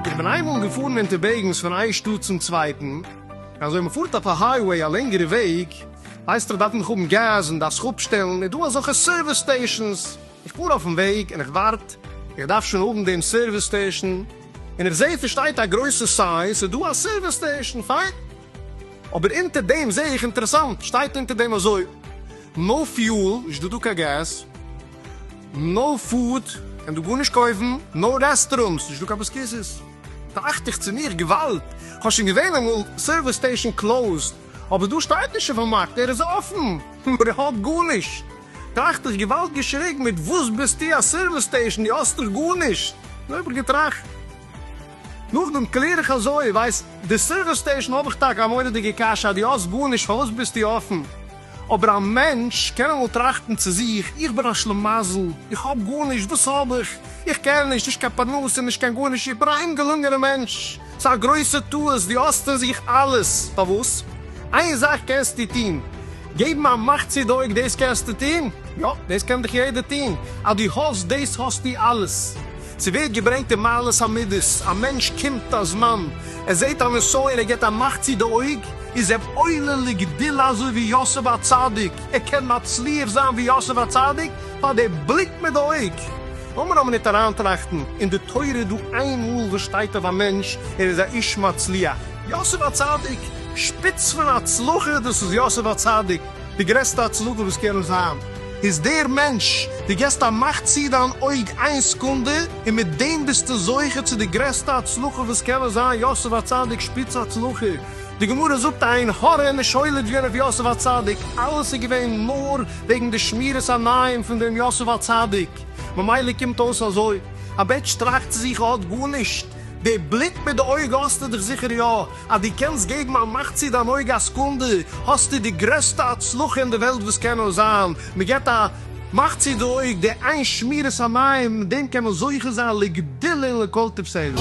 איך בין איינמאל געפארן אונטערוועגנס פון איין שטאט צום צווייטן, אזוי מ'פארט אויף א הייוועי א לענגערע וועג, ווייסט איר דארף מען האבן געז און דארפסט אפשטעלן, איז דא אזעלכע סערוויס סטעישאנס, איך פאר אויפן וועג און איך ווארט, איך דארף שוין האבן דעם סערוויס סטעישאן, און איך זעה ס'שטייט א גרויסע סיין ס'איז דא א סערוויס סטעישאן, פיין. אבער אונטער דעם זעה איך אינטערעסאנט שטייט אונטער דעם אזוי, נאו פיועל, נישט דא דא קיין געז, נאו פוד, קען דא גארנישט קויפן, נאו רעסטעראונטס, נישט דא קיין ביסקיסיס. טראכט איך צו מיר, געוואלד, כ'האב שוין געזען אמאל סערוויס סטעישן קלאוזד, אבער דא שטייט נישט אויפן מארק ער איז אפן, נאר ער האט גארנישט. טראכט איך, געוואלד געשריגן, מיט וואס ביסטו א סערוויס סטעישן, דו האסט דאך גארנישט. און אויב איך געטראכט. נאכדעם קלער איך אזוי, ווייסט, די סערוויס סטעישאן האב איך טאקע א מורא'דיגע קשיא, דו האסט גארנישט, פארוואס ביסטו אפן? אבער א מענטש קען אמאל טראכטן צו זיך, איך בין א שלמזל, איך האב גארנישט, וואס האב איך? איך קען נישט, נישט קיין פרנסה, נישט קיין גארנישט, איך בין א אומגעלונגענע מענטש. ס'איז א גרויסע טעות, דו האסט אין זיך אלעס. פארוואס? איין זאך קענסטו טון, געבן א מאך צו די אויג, דאס קענסטו טון? יא, דאס קען דאך יעדער טון, אז דו האסט דאס האסטו אלעס. ס'ווערט געברענגט אין מעלות המידות, א מענטש קומט א זמן, ער זעט א נסיון, ער גיבט א מאך צו די אויג, איז ער עולה לגדילה אזוי ווי יוסף הצדיק, ער קען מצליח זיין ווי יוסף הצדיק פאר די בליק מיט די אויג. לאמיר נאר מינוט אריינטראכטן, אין די תורה איז דא איין מאל וואס שטייט אויף א מענטש, ער איז א איש מצליח. יוסף הצדיק, שפיץ פון הצלחה, דאס איז יוסף הצדיק. די גרעסטע הצדקה וואס קען זיין איז דער מענטש, דו געסט א מאך צו דיין אויג איין סקונדע און מיט דעם ביסטו זוכה צו די גרעסטע הצלחה וואס קען זיין, יוסף הצדיק שפיץ הצלחה, די גמרא זאגט עין הרע איז נישט עולה געווען אויף יוסף הצדיק, אלעס איז געווען נאר וועגן די שמירת עיניים פון דעם יוסף הצדיק, ממילא קומט אויס אזוי, א מענטש טראכט צו זיך ער האט גארנישט, די בליק מיט די אויג האסטו דאך זיכער יא, אז דו קענסט געבן א מאך צו דיין אויג א סקונדע, האסטו די גרעסטע הצלחה אין די וועלט וואס קען נאר זיין, מען געבט א מאך צו די אויג, די איין שמירת עיניים, מיט דעם קען מען זוכה זיין לגדילה און לכל תפארת.